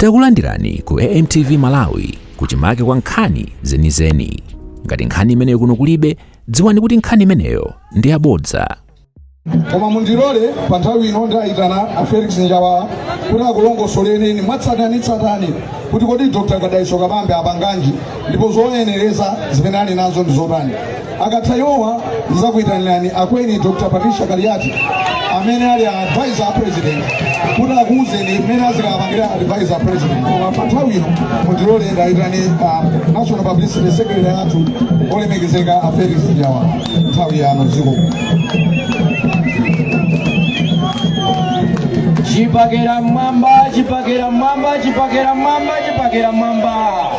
Takulandirani ku AMTV Malawi kuchimake kwa nkhani zenizeni. Ngati nkhani imeneyo kuno kulibe, dziwani kuti nkhani imeneyo ndi yabodza. koma mundilole pa nthawi ino ndayitana a felix njawala kuti akulongosolereni mwatsatanetsatane kuti kodi dr dalitso kabambe apanganji ndipo zoyenereza zimene ali nazo ndi zotani akatha awowa ndizakuyitanirani akweni dr patricia kaliati amene ali advisor a president kuti akuwuzeni mmene azikapangira advisor a president koma pa nthawi ino mundilole ndayitane a national publicity secretary athu olemekezeka a felix njawala nthawi yanu dziko chipakera mmwamba chipakera mmwamba chipakera mmwamba chipakera mmwamba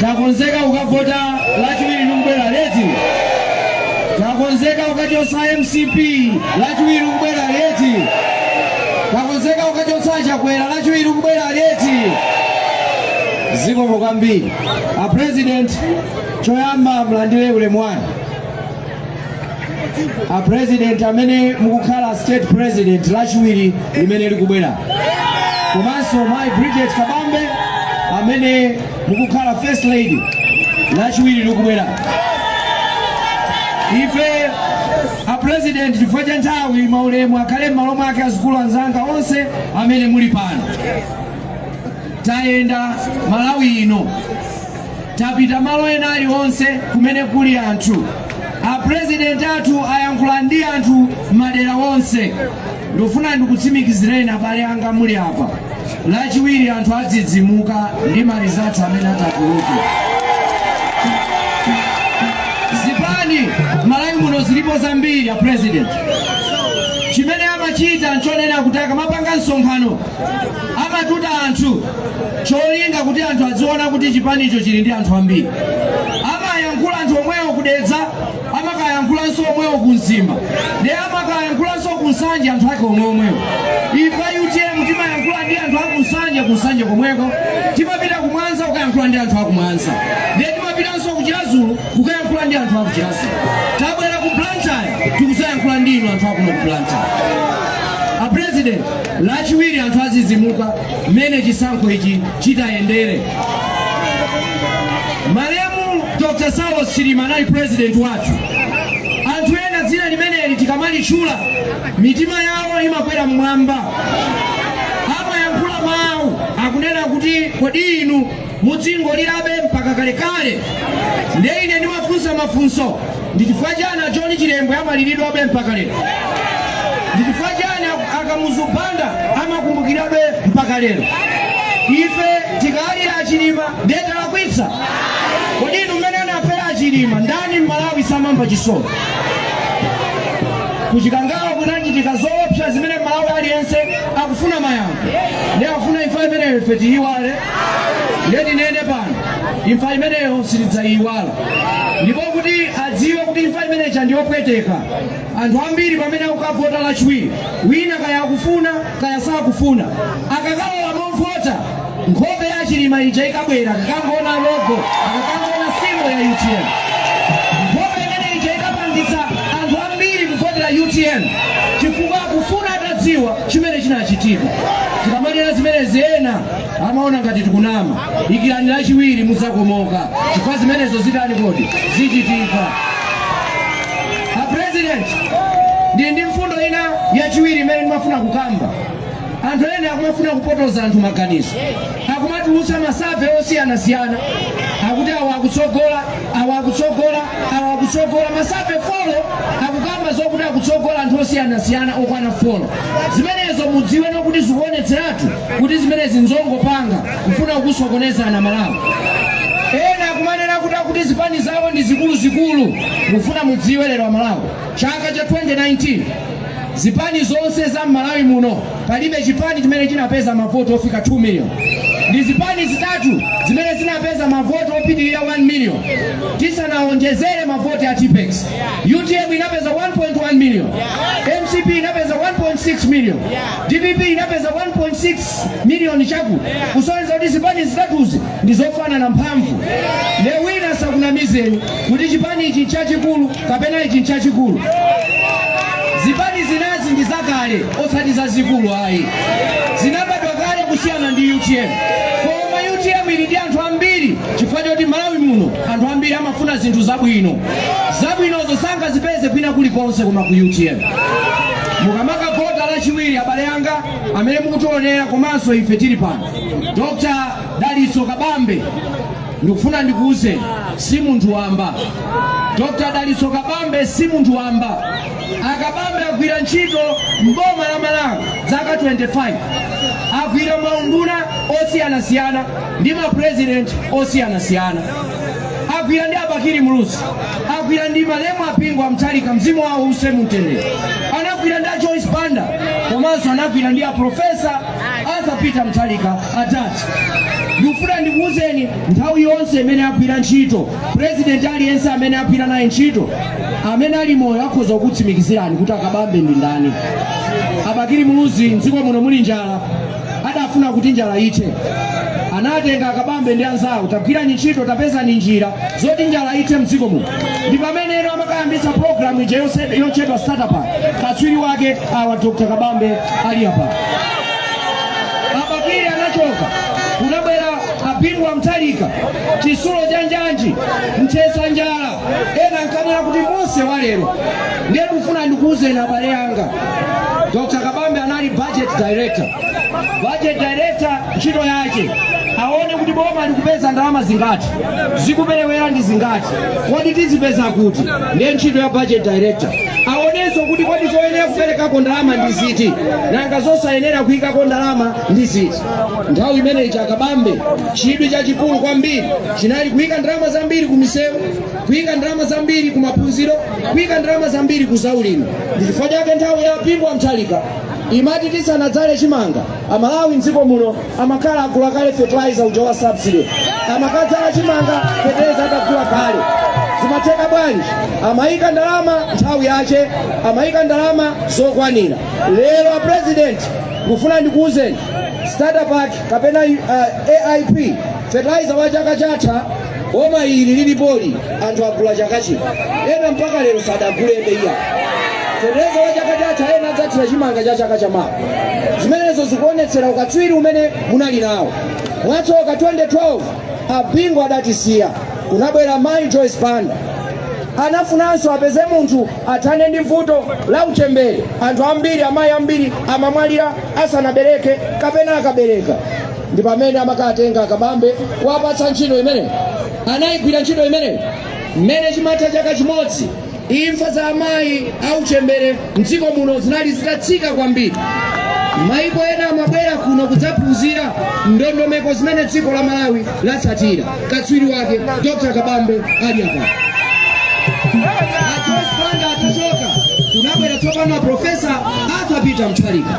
takonzeka kukavota lachiwiri likubwerali eti takonzeka kukachotsa mcp lachiwiri likubwerali eti takonzeka kukachotsa chakwera lachiwiri likubwerali eti zikomo kwambiri a president choyamba mlandire ulemu wanu a president amene mukukhala state president lachiwiri limene likubwera komanso mayi Bridget Kabambe amene mukukhala first lady lachiwiri likubwera ife a president chifukwa cha nthawi maulemu akhale m'malo mwake azukulu anzanga onse amene muli pano tayenda malawi ino tapita malo ena aliwonse kumene kuli anthu apurezidenti athu ayankhula ndi anthu madera onse ndikufuna ndikutsimikizireni abale anga muli apa lachiwiri anthu adzidzimuka ndi marizati amene atatuluke zipani malawi muno zilipo zambiri apurezidenti chimene amachita nchonena kuti akamapanga msonkhano amatuta anthu cholinga kuti anthu aziona kuti chipanicho chili ndi anthu ambiri amayankhula anthu omwewo kudedza amakayankhulanso omwewo ku mzimba nde amakayankhulanso ku nsanje anthu ake omweomwewo ife a utm timayankhula ndi anthu aku nsanje ku nsanje komweko timapita ku mwanza kukayankhula ndi anthu aku mwanza ndiye timapitanso ku chiradzulu kukayankhula ndi anthu aku chiradzulu tabwera ku blantyre tikuzayankhula ndi inu anthu akuno ku blantyre a president lachiwiri anthu azizimuka mmene chisankho ichi chitayendere. Malemu Dr. Saulos Chilima anali president wathu. Anthu ena dzina limeneli tikamalitchula mitima yawo imakwera mmwamba, amayankhula mawu akunena kuti kodi inu Mudzingolirabe mpaka kalekale. Ndiye ine ndimafunsa mafunso, ndi chifukwa chani a John Chilembwe amaliridwabe mpaka lero? Ndi chifukwa chani a- a Kamuzu Banda amakumbukirabe mpaka lero? Ife tikalira a Chilima ndiye talakwitsa? Kodi inu mmene anafera a Chilima ndani m'Malawi samamva chisoni? ku Chikangawa kunachitika zoopsa zimene m'Malawi aliyense akufuna mayankho ndiye akufuna imfa imeneyo ife tiyiwale ndiye tinene pano imfa imeneyo sitidzayiwala ndipo kuti adziwe kuti imfa imeneja ndiyopweteka anthu ambiri pamene akukavota lachiwiri wina kaya akufuna kaya sakufuna akakalowa movota nkhope ya chilima ija ikabwera akakangoona logo akakangoona simbo ya utm nkhope imene ija ikapangitsa anthu ambiri kuvotera utm chifukwa akufuna atadziwa chimene chinachitika tikamanena zimenezi ena amaona ngati tikunama dikirani lachiwiri mudzakomoka chifukwa zimenezo zitani kodi zichitika a president ndi ndi mfundo ina yachiwiri imene ndimafuna kukamba anthu ena akumafuna kupotoza anthu maganizo akumatulutsa masave osiyanasiyana akuti awa akutsogola awa akutsogola awa akutsogola masave folo akukamba zokuti akutsogola anthu osiyanasiyana okwana folo zimenezo mudziwe nokha kuti zikuonetseratu kuti zimenezi nzongopanga kufuna kukusokonezani amalawi ena akumanena kuti akuti zipani zawo ndi zikuluzikulu ndikufuna mudziwe lero amalawi chaka cha 2019 zipani zonse za mmalawi muno palibe chipani chimene chinapeza mavoti ofika 2 million ndi zipani zitatu zimene zinapeza mavoti opitirira 1 million tisanawonjezere mavoti a tipex utm inapeza 1.1 million mcp inapeza 1.6 million Dpp inapeza 1.6 miliyoni chakuti kusonyeza kuti zipani zitatuzi ndi zofanana mphamvu. Nde wina asakunamizeni kuti chipani ichi nchachikulu kapena ichi nchachikulu. Zipani zinazi ndi zakale osati zazikulu ayi, zinabadwa kale kusiyana ndi utm. Koma utm ili ndi anthu ambiri chifukwa choti Malawi muno anthu ambiri amafuna zinthu zabwino. Zabwinozo sangazipeze kwina kulikonse koma ku utm. mukamakavota lachiwiri abale anga amene mukutionera komanso ife tili pano dr dalitso kabambe ndikufuna ndikuwuzeni si munthu wamba dr dalitso kabambe si munthu wamba a kabambe agwira ntchito mboma la malawi zaka 25 agwira maunduna osiyanasiyana ndi mapurezidenti osiyanasiyana agwira ndi a Bakili Muluzi, agwira ndi malemu a Bingu wa Mutharika, mzimu wawo uuse mumtendere, anagwira ndi a Joyce Banda komanso anagwira ndi a Profesa Arthur Peter Mutharika atati ndikufuna ndikuwuzeni nthawi yonse imene agwira ntchito president aliyense amene agwira naye ntchito amene ali moyo akhoza kukutsimikizirani kuti a Kabambe ndi ndani a Bakili Muluzi mdziko muno muli njala adafuna kuti njala ithe anatenga a Kabambe ndi anzawo tagwirani ntchito tapezani njira zoti njala ithe mdziko muno ndi pamene amakayambitsa programu ija yotchedwa starter pack katswiri wake awa Dr. Kabambe ali apa a Bakili anachoka kunabwera a Bingu wa Mutharika chitsulo cha njanji mthetsa njala ena ankanena kuti Mose walero ndiye ndikufuna ndikuwuzeni abale anga Dr. Kabambe anali budget director. Budget director ntchito yake aone kuti boma likupeza ndalama zingati, zikuperewera ndi zingati, kodi tizipeza kuti, ndiye ntchito ya budget director. Aonenso kuti kodi zoyenera kuperekako ndalama ndi ziti, nanga zosayenera kuyikako ndalama ndi ziti. Nthawi imeneyi Dr. Kabambe chidwi chachikulu kwambiri chinali kuyika ndalama zambiri ku misewu kuyika ndalama zambiri ku maphunziro kuyika ndalama zambiri ku zaulimi ndi chifukwa chake nthawi ya a Bingu wa Mutharika imati tisanadzale chimanga a Malawi mdziko muno amakhala agula kale fertilizer uja wa subsidy amakadzala chimanga fertilizer atagula kale zimatheka bwanji amayika ndalama nthawi yache amayika ndalama zokwanira lero a president nkufuna ndikuwuzeni starter pack kapena uh, aip fertilizer wa chaka chatha Boma ili lilipoli anthu agula chaka chino, ena mpaka lero sadagulebe iya fertilizer wa chaka chatha, ena adzathira chimanga cha chaka chamawa. Zimenezo zikuonetsera ukatswiri umene munali nawo. Mwatsoka 2012 a Bingu adatisiya, kunabwera mayi Joyce Banda anafunanso apeze munthu athane ndi vuto la uchembere. Anthu ambiri, amayi ambiri amamwalira asanabereke kapena akabereka. ndi pamene amakatenga a Kabambe kuwapatsa ntchito imene anayigwira ntchito imene mmene chimatha chaka chimodzi imfa za amayi auchembere mdziko muno zinali zitatsika kwambiri maiko ena amabwera kuno kudzaphunzira ndondomeko zimene dziko la Malawi latsatira katswiri wake Dr. Kabambe ali apa a Joyce Banda atachoka kunabwera tsopano a Profesa Arthur Peter Mutharika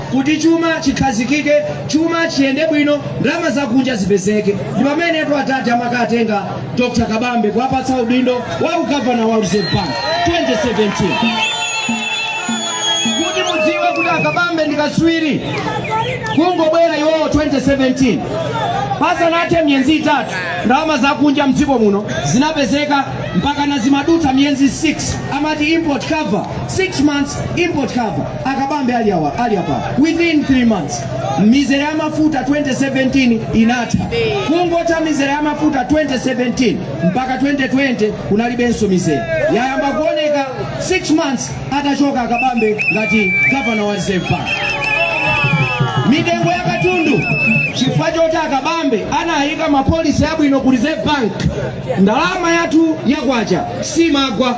Kuti chuma chikhazikike, chuma chiyende bwino, ndalama zakunja zipezeke, ndi pamenetu adadi amakatenga Dr Kabambe kuwapatsa udindo wa u Governor wa Reserve Bank 2017. Kuti mudziwe kuti a Kabambe ndi katswiri kungobwera iwowo 2017 pasanathe miyezi itatu ndalama zakunja mdziko muno zinapezeka mpaka nazimadutsa miyezi 6 amati import cover 6 months import cover Akabambe ali apa within 3 months mizere ya mafuta 2017 inatha. Kungotha mizere ya mafuta 2017 mpaka 2020 kunalibenso mizere, yayamba kuoneka 6 months atachoka Akabambe ngati gavana wa Reserve Bank. Mitengo ya katundu chifukwa choti Akabambe anayika mapolisi abwino ku Reserve Bank, ndalama yathu ya kwacha simagwa.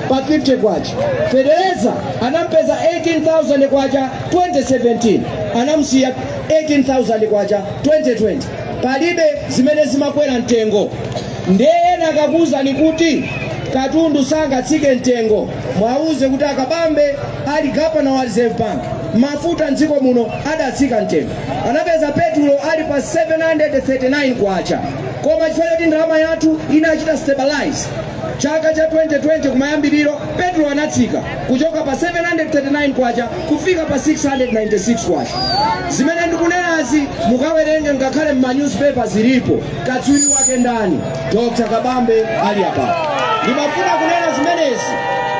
pa 50 kwacha. Feteleza anampeza 18,000 kwacha 2017 anamusiya 18,000 kwacha 2020 palibe zimene zimakwera mtengo ndiye ena akakuwuzani kuti katundu sangatsike mtengo muwauze kuti akabambe ali gavana wa reserve bank mafuta mdziko muno adatsika mtengo anapeza petulo ali pa 739 kwacha koma chifukwa choti ndalama yathu inachita stabilize Chaka cha 2020 kumayambiriro, petulo anatsika kuchoka pa K739 kufika pa K696. Zimene ndikunenazi mukawerenge ngakhale m'ma newspaper zilipo. Katswiri wake ndani? Dr. Kabambe ali apa. Ndimafuna kunena zimenezi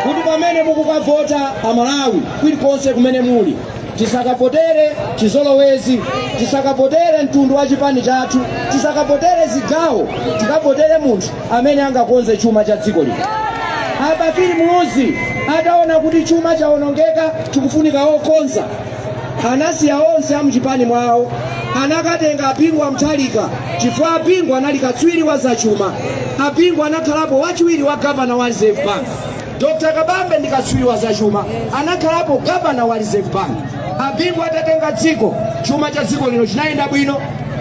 kuti pamene mukukavota Amalawi kulikonse kumene muli tisakavotere chizolowezi, tisakavotere mtundu wa chipani chathu, tisakavotere zigawo, tikavotere munthu. amene angakonze chuma cha dziko lino. Abakili Muluzi ataona kuti chuma chawonongeka chikufunika okonza, anasiya onse amuchipani mwawo anakatenga Abingu wa Mutharika chifukwa Abingu anali katswiri wa zachuma. Abingu anakhalapo wachiwiri wa gavana wa Reserve Bank. Dr kabambe ndi katswiri wa zachuma anakhalapo gavana wa reserve bank abingu atatenga dziko chuma cha dziko lino chinayenda bwino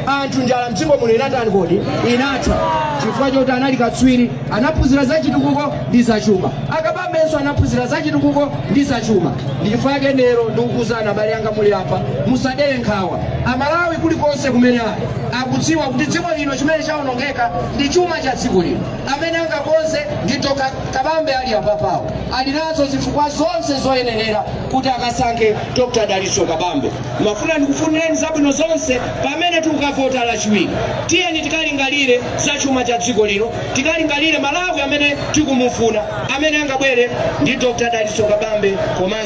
anthu njala mdziko muno inatani kodi inatha chifukwa choti anali katswiri anaphunzira za chitukuko ndi zachuma akabambenso anaphunzira za chitukuko ndi zachuma ndi chifukwa chake lero ndikukuuzani abale anga muli apa musadere nkhawa amalawi kulikonse kumene ali akudziwa kuti dziko lino chimene chawonongeka ndi chuma cha dziko lino amene angakonze ndi Dr Kabambe ali apapawo ali nazo zifukwa zonse zoyenerera kuti akasankhe Dr Dalitso Kabambe. Ndimafuna ndikufunireni zabwino zonse pamene tikukavota Lachiwiri. Tiyeni tikalingalire za chuma cha dziko lino, tikalingalire Malawi amene tikumufuna, amene angabwere ndi Dr Dalitso Kabambe komanso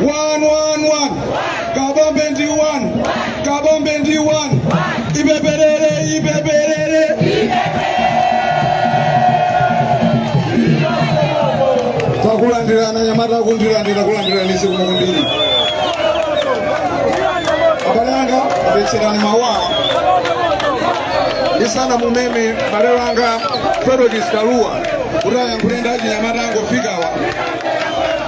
one one one kabambe ndi one kabambe ndi one ibwerere ibwerere takulandirani anyamata kundilandira kulandirani zikomo kwambiri abale anga apatseni mau ndisanamumeme mbale wanga Fredokiss Kalua kuti ayankhule ndi achinyamata angofikawa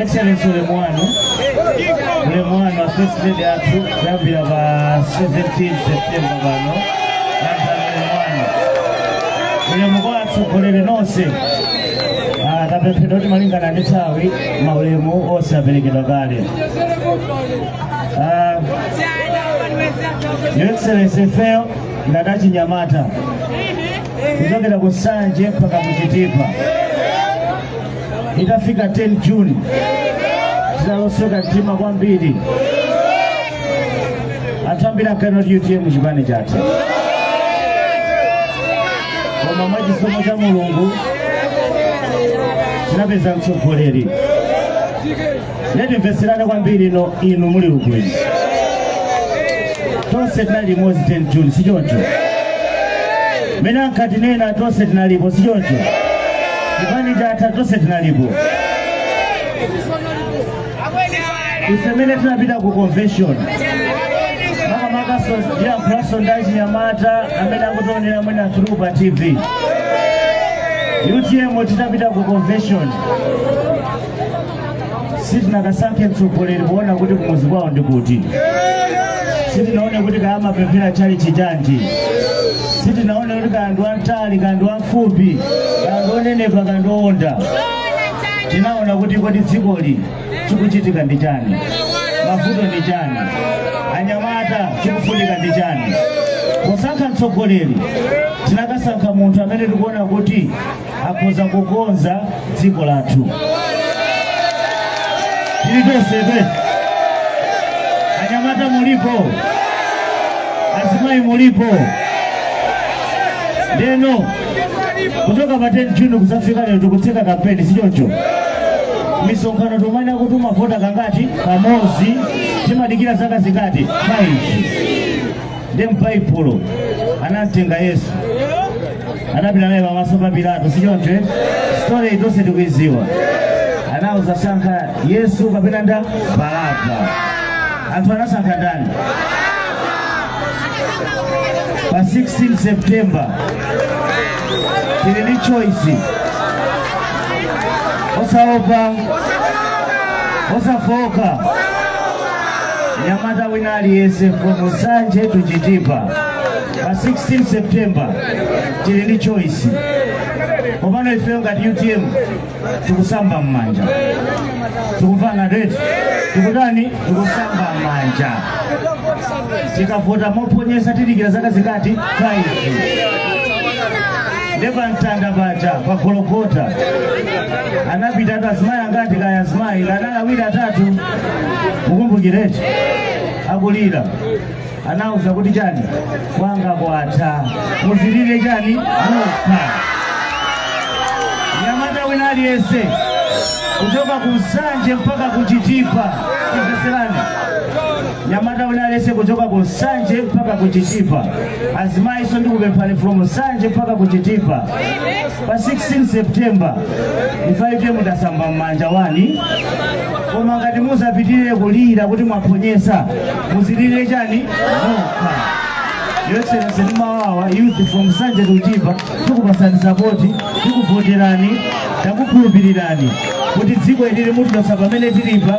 Excellency ulemu wanu ulemu wanu First Lady athu kuyambira pa 17 September pano landirani ulemu wanu ulemu kwa atsogoleri nonse Ah, tapemphedwa kuti malingana ndi nthawi maulemu onse aperekedwa kale Ah, Your Excellency ifeyo ngati achinyamata kuchokera ku Nsanje mpaka ku Chitipa itafika 10 June tidalosweka mtima kwambiri anthu ambiri ankanena kuti utm chipani chatha koma mwa chisomo cha mulungu tinapeza mtsogoleri nde timvetserane kwambiri inu inu muli mboni tonse tinali limodzi 10 juni sichoncho mene ankatinena tonse tinalipo sichoncho chipani chatha tonse tinalipo ife mene tinapita ku convention makamakaso ndiyankhulanso ndi achinyamata amene akutionera amene through pa tv utm titapita ku convention sitinakasankhe mtsogoleri poona kuti kumuzi kwawo ndi kuti sitinaone kuti kaya amapemphera tchalichi chanji sitinaone kuti kaya ndi wamtali kaya ndi wamfupi kaya ndi wonenepa kaya ndi wowonda tinaona kuti kodi dzikoli chikuchitika ndi chani mavuto ndi chani anyamwata chikufunika ndi chani posankha mtsogoleri tinakasankha munthu amene tikuona kuti akhoza kukonza dziko lathu tili tonsefe anyamata mulipo azimayi mulipo ndeno kuchoka pa 10 juni kuzafika lero tikutseka kampeni sichoncho misonkhano timanena kuti timavota kangati kamodzi timadikira zaka zingati 5 ndi m'baibulo anamtenga yesu anapita naye pamaso pa pilato sichoncho eti? story iyi tonse tikuiziwa anauza sankha yesu kapena ndani baraba anthu anasankha ndani pa 16 september tili ndi choice osaopa osafooka nyamata wina aliyense from nsanje to chitipa pa 16 september tili ndi choice koma ifeyo ngati utm tikusamba m'manja tikumvana eti tikutani tikusamba m'manja tikavota mophonyetsa tidikira zaka zingati 5 nde pamtanda paja pa gologota anapita azimayi angati kaya azimayi anali awiri atatu mukukumbukira eti akulira anauza kuti chani kwanga kwatha muzilire chani nokha nyamata wina aliyense kuchoka ku nsanje mpaka ku chitipa imvetserani nyamata wina aliyense kuchoka ku nsanje mpaka ku chitipa azimayinso ndikupemphani from nsanje mpaka ku chitipa pa 16 september ife tasamba m'manja wani koma ngati muzapitirize kulira kuti mwaphonyetsa muzilire chani nokha your excellency ndi amenewa youth from nsanje to chitipa tikupatsani sapoti tikuvoterani takukhulupirirani kuti dziko ili mutichotsa pamene tilipa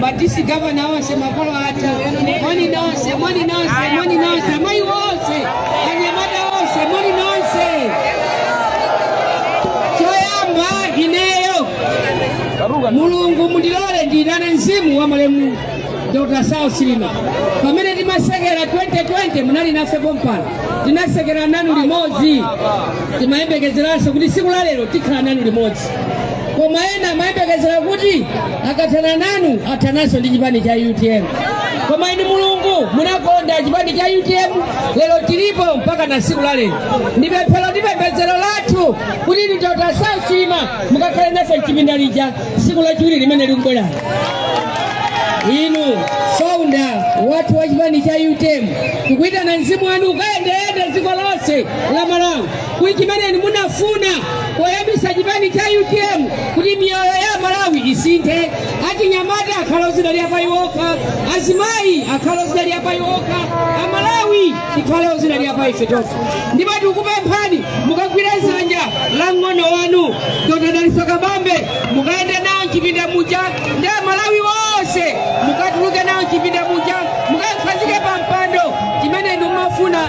ma district governor onse makolo athu moni nonse moni nonse moni nonse amayi onse anyamata onse moni nonse choyamba ineyo mulungu mundilole ndiyitane mzimu wa malemu dr saulos chilima pamene timatsekera 2020 munali nafe pompano tinatsekera nanu limodzi timayembekezeranso kuti siku la lero tikhala nanu limodzi koma ena amayembekezera kuti akathana nanu athananso ndi chipani cha utm koma inu mulungu munakonda chipani cha utm lero chilipo mpaka na siku la lero ndi pemphero ndi pembedzero lathu kuti inu dr saulos chilima mukakhale nafe mchipinda lija siku lachiwiri limene likubwera inu founder wathu wa chipani cha utm tikuyitana mzimu wanu ukayendeyende dziko lonse la malawi ku chimene inu munafuna poyambisa chipani cha utm kuti miyoyo ya amalawi isinthe achinyamata akhale ozidalira pa iwo okha azimayi akhale ozidalira pa iwo okha amalawi tikhale ozidalira pa ife tokha ndipo tikupemphani mukagwire dzanja la mng'ono wanu dr daliso kabambe mukayende nawo mchipinda muja ndi amalawi onse mukatuluke nawo mchipinda muja mukakhazike pa mpando chimene inu mumafuna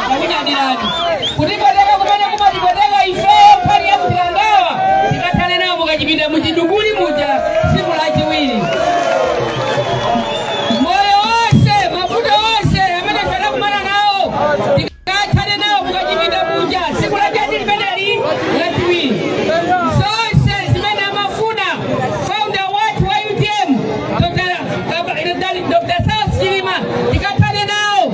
takunyadilani kutipoteka kumene kumatipoteka ifeyo pali ya kutilangawa tikathane nawo mukachipinda muchidukuli muja tsiku lachiwiri moyo onse mavuto onse amene tinakumana nawo tikathane nawo mukachipinda muja tsiku lachabe limeneli lachiwiri zonse zimene amafuna founder wathu wa utm Dr. Saulos Chilima tikathane nawo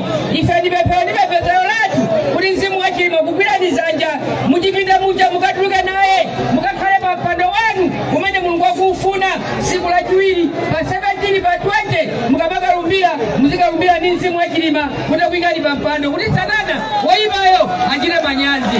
ife ndi pemphero ndi pembedzero lathu kuti mzimu wa chilima ukugwireni dzanja muchipinda muja mukatuluke naye mukakhale pa mpando wanu umene mulungu akuufuna tsiku la chiwiri pa 17 pa 20 mukamakalumbira muzikalumbira ndi mzimu wa chilima kuti wakuyikani pa mpando kuti satana woyipayo achite manyazi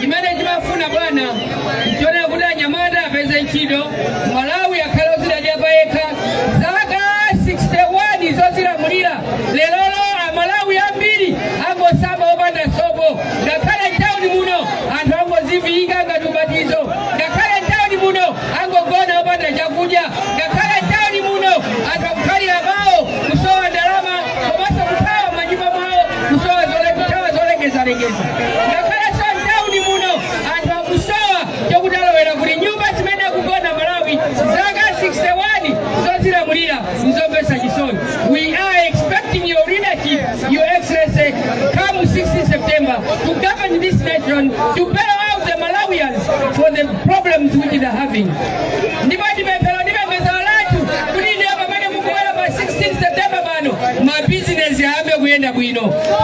chimene timafuna bwana nchonena kuti anyamata apeze ntchito malawi akhale odzidalira pa yekha zaka 61 zozilamulira lerolo amalawi ambiri angosamba opanda sopo ngakhale mtauni muno anthu angodziviyika ngati ubatizo ngakhale mtauni muno angogona opanda chakudya ngakhale mtauni muno anthu akukhalira mawo kusowa ndalama komanso kuthawa mmanyumba mwawo kusowa zole- kuthawa zolekezalekeza ngakhalenso mtauni muno anthu akusowa chokuti alowera kuti nyumba zimene akugona malawi zaka 61 zozilamulira nzomvetsa chisoni we are expecting your leadership your excellency come 16 september to govern this nation to bail out the malawians for the problems which they are having ndipo ndi pemphero Kubwera pa 16 September pano mabizinesi ayambe kuyenda bwino,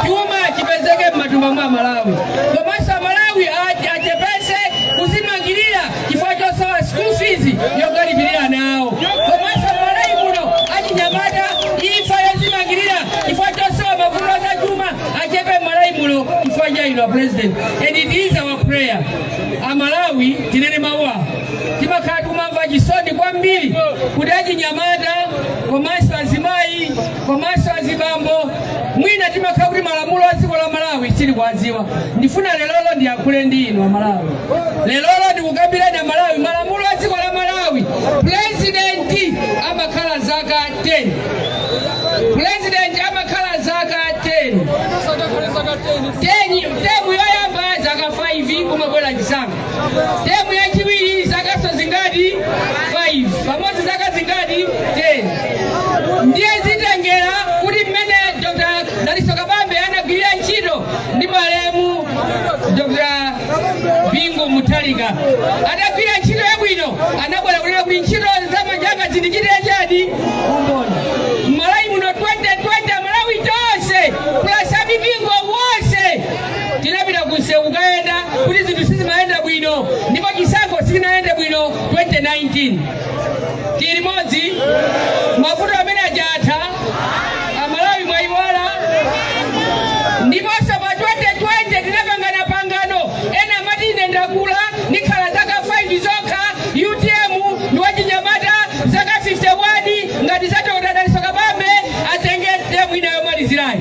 chuma chipezeke m'matumba mwa aMalawi, komanso aMalawi achepetse kuzimangirira chifukwa chosowa school fees yokalipirira anawo, komanso m'Malawi muno achinyamata imfa yozimangirira chifukwa chosowa mavuto azachuma achepe m'Malawi muno chifukwa cha inu a president and it is our prayer a Malawi tinene mawu awa Timakhala tikumamva chisoni kwambiri kuti achinyamata komanso azimayi komanso azibambo mwina timakhala kuti malamulo a dziko la Malawi sitili kuwadziwa. Ndifuna lerolo ndiyankhule ndi inu Amalawi, lerolo ndikukambireni Amalawi malamulo a dziko la Malawi. Pulezidenti amakhala zaka 10, pulezidenti amakhala zaka 10, temu yoyamba zaka 5 kumabwera chisankho. temu yachiwiri zakaso zingati 5 pamodzi zaka zingati 10 ndiye zitengera kuti mmene dr dalitso kabambe anagwirira ntchito ndi malemu dr bingu mutharika anagwirira ntchito yabwino anabwera kunena kuti ntchito za manja anga zindichitire chani Tinapita kunsewu kukayenda kuti zinthu sizimayenda bwino ndipo chisankho sichinayende bwino 2019. Tili limodzi? Mavuto amene aja atha? Amalawi mwaiwala? Ndiponso pa 2020 zidapangana pangano, ena amati ine ndakula ndikhala zaka 5 zokha, utm ndi wachinyamata zaka 51 ngati za Dr. Dalitso Kabambe atenge term yomalizirayi.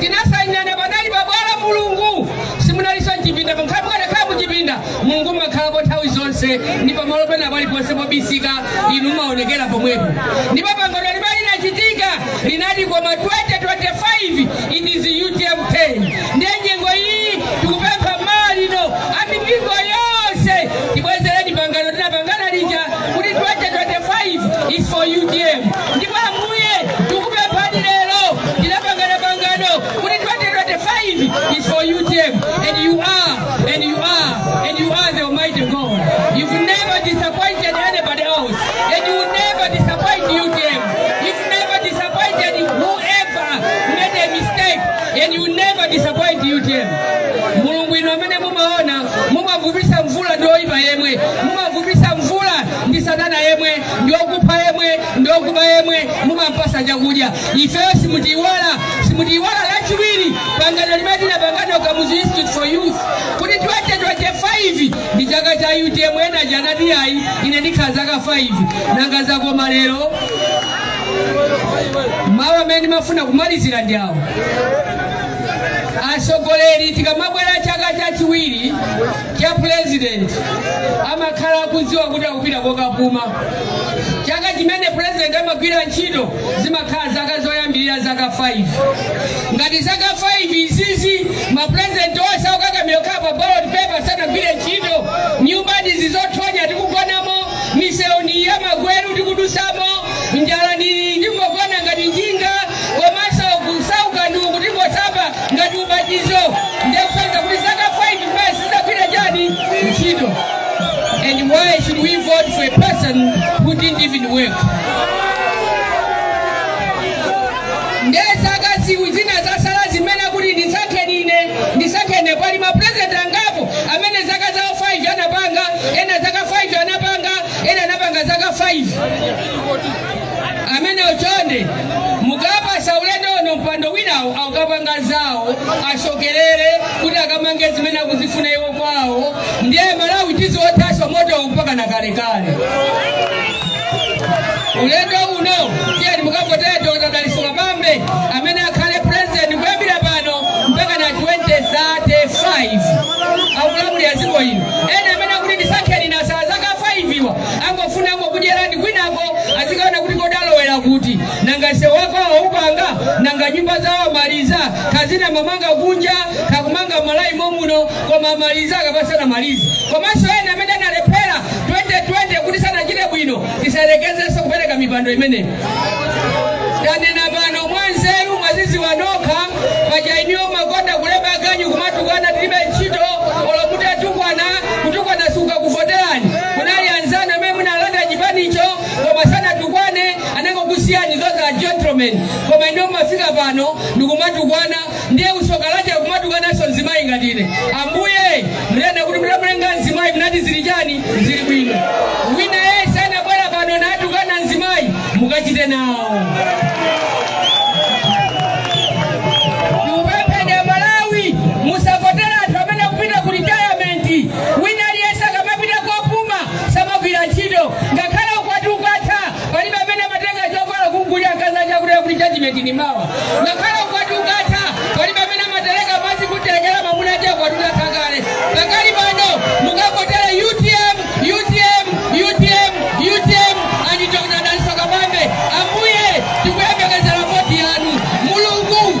Tinasainirana panali pa bwalo, Mulungu. Simunalinso mchipinda, pokhala mukanakhala mu chipinda, Mulungu mumakhalako nthawi zonse, ndi pamalo pena paliponse pobisika, Inu mumawonekera pomwepo. Ndipo pangano limene linachitika linati, Koma 2025, it is utm turn. Ndiye nyengo iyi tikupempha mmawa uno a mipingo yonse tibwezereni pangano tinapangana lija kuti 2025 is for utm. Ndipo Ambuye, tikupemphani lero, tinapangana pangano kuti 2025 is for UTM and you are and you are and you are the Almighty God. You've never disappointed anybody else and you will never disappoint UTM. You've never disappointed whoever made a mistake and you will never disappoint UTM. Mulungu inu amene mumaona mumavumisa mvula ndi oyipa yemwe mumavumisa ndi satana yemwe ndi okupha yemwe ndi okuba yemwe mumampasa chakudya ifeyo simutiiwala simutiiwala lachiwiri pangano limene tinapangana ku kamuzu institute for youth kuti 2025 ndi chaka cha utm ena aja anati ayi ine ndikhala zaka 5 nanga zakoma lero mawu amene ndimafuna kumalizira ndi awa atsogoleri tikamabwera chaka chachiwiri cha president amakhala akudziwa kuti akupita kokapuma chaka chimene president amagwira ntchito zimakhala zaka zoyambirira zaka 5 ngati zaka 5 izizi mapresident onse okakamira kukhala pa ballot paper sanagwire ntchito nyumba ndizi zothonya tikugonamo misewu ndi iyi ya magweru tikudusamo njala ndi iyi tikungogona ngati njinga komanso kusauka ndi uku tikungosamba ngati ubatizo ndiye kusanza kuti zaka 5 kumene sizagwira chani ntchito and why should we vote for a person who didn't even work ndiye zaka ziwiri zina zasala zimene kuti ndisankheni ine ndisankheni pali mapurezidenti angapo amene zaka zawo 5 anapanga ena zaka 5 anapanga ena anapanga zaka 5 amene chonde mukapatsa ulendo uno mpando winawo akapanga zawo asonkherere kuti akamange zimene akuzifuna iwo kwawo ndiye malawi tiziwothanso motowo mpaka na kalekale ulendo uno tiyeni mukavotere dr dalitso kabambe amene akhale president kuyambira pano mpaka na 2035 akulamulira dziko ino ena amene akuti ndisakheni ndatsala zaka 5 awa angofuna kukudyerani kwinako azikaona kuti kodi alowera kuti nanga msewu wako waupanga nanga nyumba zawo amaliza kazina mamanga kunja kakumanga malawi momuno koma amaliza akapasana maliza komanso ena amene analephera 2020 kuti sanachite bwino tisayerekezenso kupereka mipando imeneyo tanena pano mwanzeru mwazidziwa nokha pa line yo mumakonda kulemba aganyu kumatukwana tilibe ntchito olokuti atukwana kutukwana sikukakuvoterani Kunali anzanu amene munawalanda chipanicho koma sanatukwane anangokusiyani those are gentlemen koma inu mumafika pano ndikumatukwana ndiye tsoka lake kumatukwananso mzimayi ngati ine ambuye munanena kuti mutamulenga mzimayi munati zili chani zili bwino wina yense anabwera pano natukwana mzimayi mukachite nawo Tikupempheni Malawi musavotere anthu amene akupita ku retirement Wina aliyense akamapita kopuma samagwira ntchito. Ngakhale ukwati ukamatha, palibe amene amatenga chovala kumgulira mkazi uja akunena kuti judgment ndi mawa. Ngakhale ukwati ukatha, palibe amene amatereka madzi kumtelekera mamuna uja ukwati utatha kale. Pakali pano mukavotere utm, utm, utm, utm and Dr. Dalitso Kabambe. Ambuye tikuyembekezera voti yanu. Mulungu